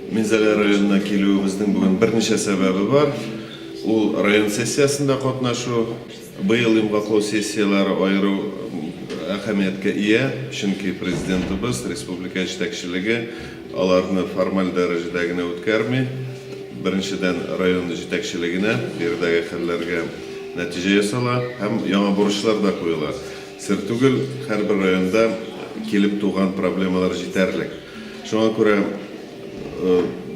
Минзәлә районына килүебезнең бүген берничә сәбәбе бар. Ул район сессиясендә катнашу. Быел йомгаклау сессияләре аерым әһәмияткә ия, чөнки Президентыбыз, республика җитәкчелеге аларны формаль дәрәҗәдә генә үткәрми. Беренчедән, район җитәкчелегенә биредәге хәлләргә нәтиҗә ясала һәм яңа бурычлар да куела. Сер түгел, һәрбер районда килеп туган проблемалар җитәрлек. Шуңа күрә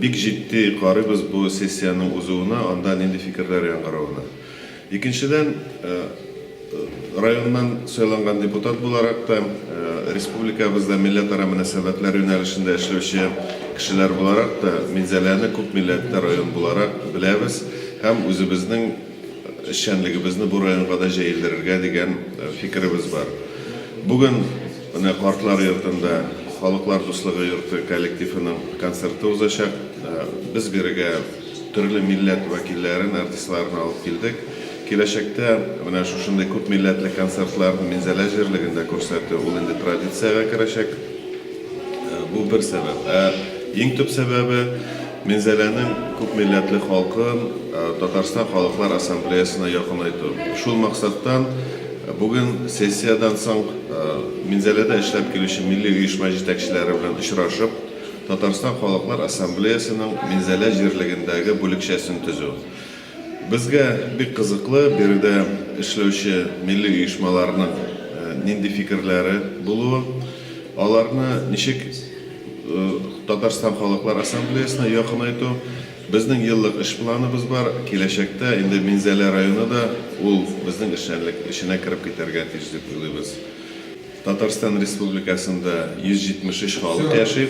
бик җитди карыйбыз бу сессиянең узуына, анда нинди фикерләр яңгыравына. Икенчедән, районнан сайланган депутат буларак та, республикабызда милләтара мөнәсәбәтләр юнәлешендә эшләүче кешеләр буларак та, Минзәләне күп милләтле район буларак беләбез һәм үзебезнең эшчәнлегебезне бу районга да җәелдерергә дигән фикеребез бар. Бүген. Менә картлар йортында Халыклар дуслыгы йорты коллективының концерты узачак. Без бирегә төрле милләт вәкилләрен, артистларын алып килдек. Киләчәктә менә шушындый күп милләтле концертларны Минзәлә җирлегендә күрсәтү, ул инде традициягә керәчәк. Бу бер сәбәп. Ә иң төп сәбәбе, Минзәләнең күпмилләтле халкын Татарстан Халыклар Ассамблеясына якынайту. Шул максаттан бүген сессиядән соң Минзәләдә эшләп килүче милли оешма җитәкчеләре белән очрашып, Татарстан Халыклар Ассамблеясының Минзәлә җирлегендәге бүлекчәсен төзү, Безгә бик кызыклы биредә эшләүче милли оешмаларның нинди фикерләре булуы, аларны ничек Татарстан Халыклар Ассамблеясына якынайту. Безнең еллык эш планыбыз бар, киләчәктә инде Минзәлә районы да ул безнең эшчәнлек эченә кереп китәргә тиеш дип уйлыйбыз. Татарстан Республикасында 173 халык яши.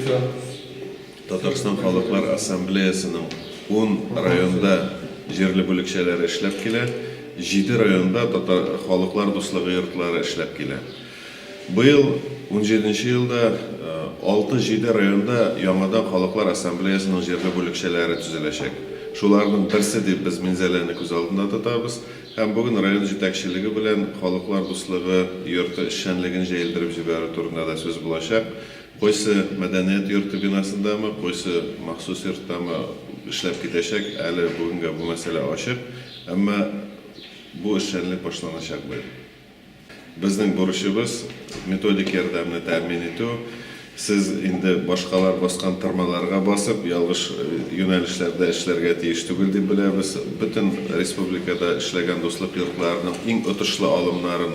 Татарстан Халыклар Ассамблеясының ун районда җирле бүлекчәләре эшләп килә, җиде районда Татар халыклар дуслыгы йортлары эшләп килә. Быел, унҗиденче елда, алты-җиде районда яңадан Халыклар Ассамблеясының җирле бүлекчәләре төзеләчәк. Шуларның берсе дип без Минзәләне күз алдында тотабыз һәм бүген район җитәкчелеге белән Халыклар дуслыгы йорты эшчәнлеген җәелдереп җибәрү турында да сүз булачак, Кайсы мәдәният йорты бинасындамы, кайсы махсус йорттамы эшләп китәчәк, әле бүгенгә бу мәсьәлә ачык, әмма бу эшчәнлек башланачак быел. Безнең бурычыбыз, методик ярдәмне тәэмин итү. Сез инде башкалар баскан тырмаларга басып, ялгыш юнәлешләрдә эшләргә тиеш түгел дип беләбез. Бөтен республикада эшләгән Дуслык йортларының иң отышлы алымнарын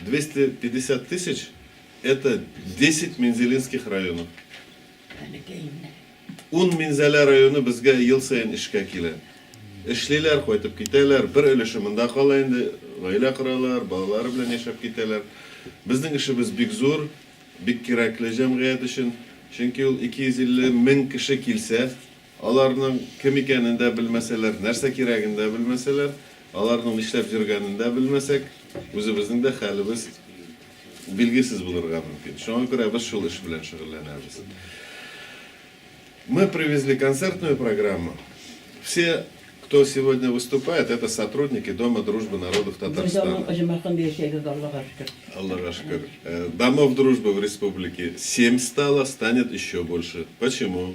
Двести пятьдесят тысяч, это десять Мензелинских районы. Ун Минзәлә районы безгә ел саен эшкә килә. Эшлиләр, кайтып китәләр, бер өлеше монда кала инде, гаилә коралар, балалары белән яшәп китәләр. Безнең эшебез бик зур, бик кирәкле җәмгыять өчен, чөнки ул 250 мең кеше килсә, Аларның кем икәнен дә белмәсәләр, нәрсә кирәген дә белмәсәләр, аларның нишләп йөргәнен дә белмәсәк, үзебезнең дә хәлебез билгесез булырга мөмкин. Шуңа күрә без шул эш белән шөгыльләнәбез. Мы привезли концертную программу. Все, кто сегодня выступает, это сотрудники Дома дружбы народов Татарстана. Бер данның оҗмахында яшәгез, Аллага шөкер. Аллага шөкер. Домов дружбы в республике семь стало, станет еще больше. Почему?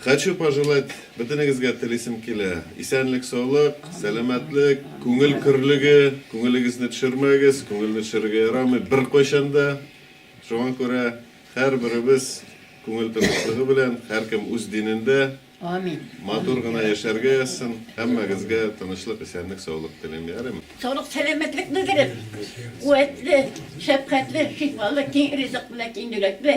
Хочу пожелать бөтенегезгә телисем килә, исәнлек-саулык, сәламәтлек, күңел көрлеге, күңелегезне төшермәгез, күңелне төшерергә ярамый беркайчан да, шуңа күрә һәрберебез күңел тынычлыгы белән, һәркем үз динендә Амин. матур гына яшәргә язсын, һәммәгезгә тынычлык, исәнлек, саулык телим, ярыймы? Саулык, сәламәтлек белдереп, куәтле, шәфкатьле, шифалы, киң ризык белән, киң йөрәкле,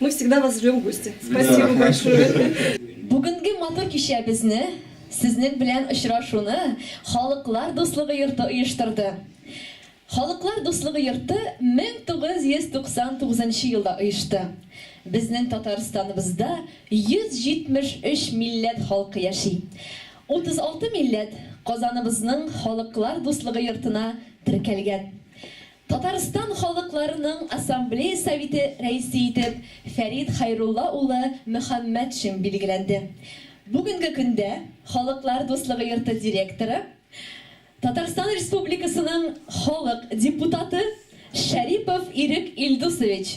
Мы всегда вас ждем в гости. Спасибо большое. Бүгенге матур кичәбезне, сезнең белән очрашуны Халыклар дуслыгы йорты оештырды. Халыклар дуслыгы йорты 1999 нчы елда оешты. Безнең Татарстаныбызда 173 милләт халкы яши. 36 милләт Казаныбызның Халыклар дуслыгы йортына теркәлгән. Татарстан Халыкларының Ассамблея Советы Рәисе итеп Фәрит Хәйрулла улы Мөхәммәтшин билгеләнде. Бүгенге көндә Халыклар дуслыгы йорты директоры, Татарстан Республикасының халык депутаты Шәрипов Ирек Илдусович